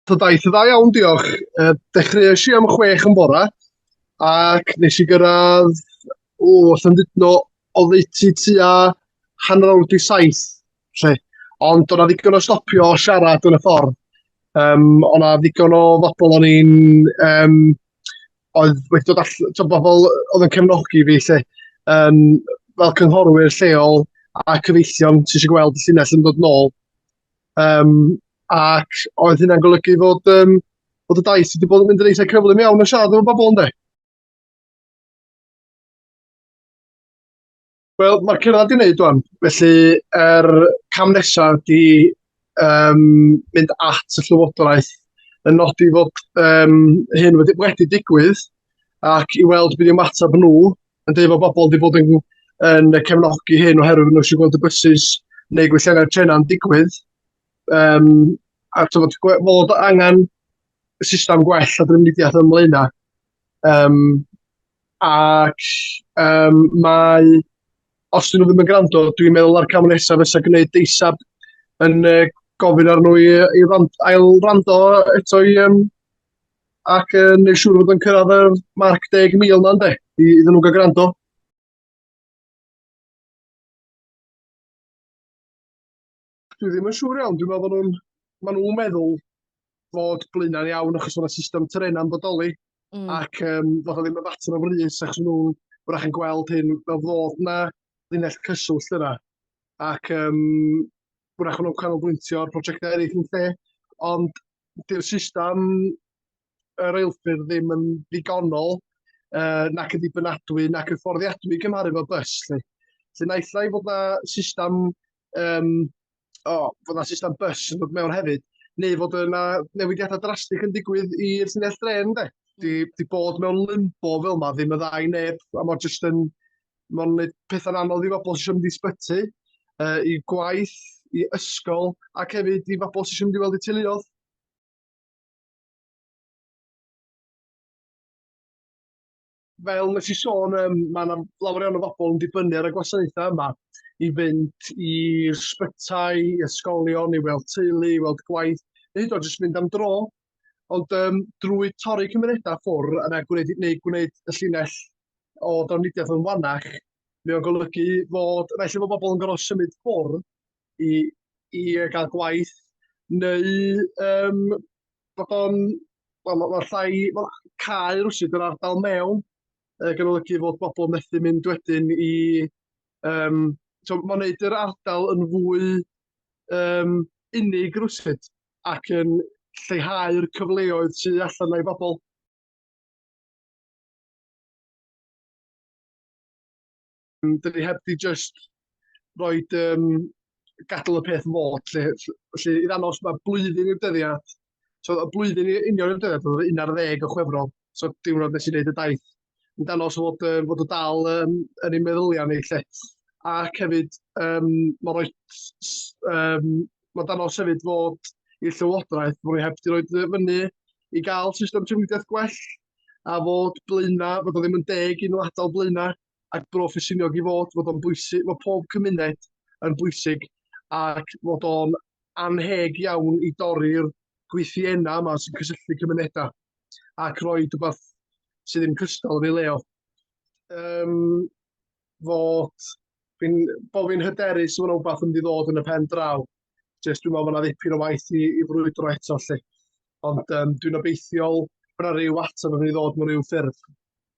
So daeth y dda iawn, diolch. Uh, dechreuais i am chwech yn bora, ac nes i gyrraedd, o, Llandudno, o ddeutu tua hanner awr di saith, lle. Ond o'na ddigon o stopio o siarad yn y ffordd. Um, o'na ddigon o bobl o'n i'n um, oedd wedi dod all- t'o' bobol oedd yn cefnogi fi 'lly yym fel cynghorwyr lleol a cyfeillion sy isio gweld y llinell yn dod nôl yym ac oedd hynna'n golygu fod yym bod y daith wedi bod yn mynd yn eitha' cyflym iawn yn siarad efo bobol ynde? Wel, mae'r cyrraedd wedi wneud o'n. Felly, yr er cam nesaf ydy um, mynd at y llywodraeth yn nodi fod um, hyn wedi, wedi digwydd ac i weld beth yw'r matab nhw yn dweud bod bobl wedi bod yn, yn cefnogi hyn oherwydd nhw eisiau gweld y bysys neu gwelliannau'r trenau'n digwydd. Um, a tyfod, fod angen system gwell a drefnidiaeth ymlaen Um, ac um, mae, os dyn nhw ddim yn gwrando, dwi'n meddwl ar cam nesaf fysa gwneud deisab yn uh, gofyn ar nhw i, i rand, ail rando eto i, um, ac uh, neu siŵr fod yn cyrraedd y marc 10,000 yna, ynddo, i, iddyn nhw gael gwrando. Dwi ddim yn siŵr iawn, dwi'n meddwl bod nhw'n, maen nhw'n meddwl fod blaenau'n iawn achos bod yna system trenau'n bodoli mm. ac um, fod o ddim yn fater o frys achos nhw'n wrach yn gweld hyn fel fod yna linell cyswllt yna ac um, wrach nhw'n canolbwyntio ar prosiectau eraill yn lle ond dy'r system y reilffyrdd ddim yn ddigonol uh, nac yn dibynadwy nac yn fforddiadwy i gymharu fo bus. Lle. Lle naill ai fod na system, um, o, fod na system bus yn dod mewn hefyd, neu fod yna newidiadau drastig yn digwydd i'r syniad dren, de. Di, di bod mewn limbo fel yma ddim y ddau neb, a mae'n jyst yn, mae'n gwneud pethau'n anodd i fobl sy'n mynd i sbyty, uh, i gwaith, i ysgol, ac hefyd i fobl sy'n mynd i weld i teuluodd. fel nes i sôn, um, mae yna lawer iawn o bobl yn dibynnu ar y gwasanaethau yma i fynd i sbytai, i ysgolion, i weld teulu, i weld gwaith, neu hyd o jyst mynd am dro. Ond um, drwy torri cymunedau ffwr yna gwneud, neu gwneud y llinell o dafnidiaeth yn wannach, mae o'n golygu fod, naill efo bobl yn gorfod symud ffwr i, i gael gwaith neu um, bod o'n, wel, mae ma llai, ma cael rhywsyd yr ardal mewn, uh, gan olygu fod bobl methu mynd wedyn i, um, so mae'n gwneud yr ardal yn fwy um, unig rhywsyd ac yn lleihau'r cyfleoedd sydd allan o'i bobl. Yym, 'dyn ni heb 'di jyst roid yym gadal y peth fod lly f- felly i ddangos ma' blwyddyn i'r dyddiad so y blwyddyn i union i'r dyddiad o'dd o un ar ddeg o Chwefror so diwrnod nes i neud y daith i ddangos fod yy fod o dal yym yn ein meddylia ni lly ac hefyd yym ma' roi s- s- yym ma' dangos hefyd fod i'r Llywodraeth bo' ni heb 'di roid yy fyny i ga'l system trafnidiaeth gwell a fod Blaena' fod o ddim yn deg i nw atal Blaena' a'r broffesiynol i fod, fod o'n bwysig, mae pob cymuned yn bwysig ac fod o'n anheg iawn i dorri'r gweithienna yma sy'n cysylltu cymunedau ac roi rhywbeth sydd ddim cystal yn ei leo. Um, fod fi'n bo fi'n hyderus fod rhywbeth yn mynd i ddod yn y pen draw. Jyst dwi'n meddwl bod yna ddipyn o waith i, i frwydro eto lle. Ond um, dwi'n obeithiol bod yna rhyw ateb yn mynd i ddod mewn rhyw ffurf.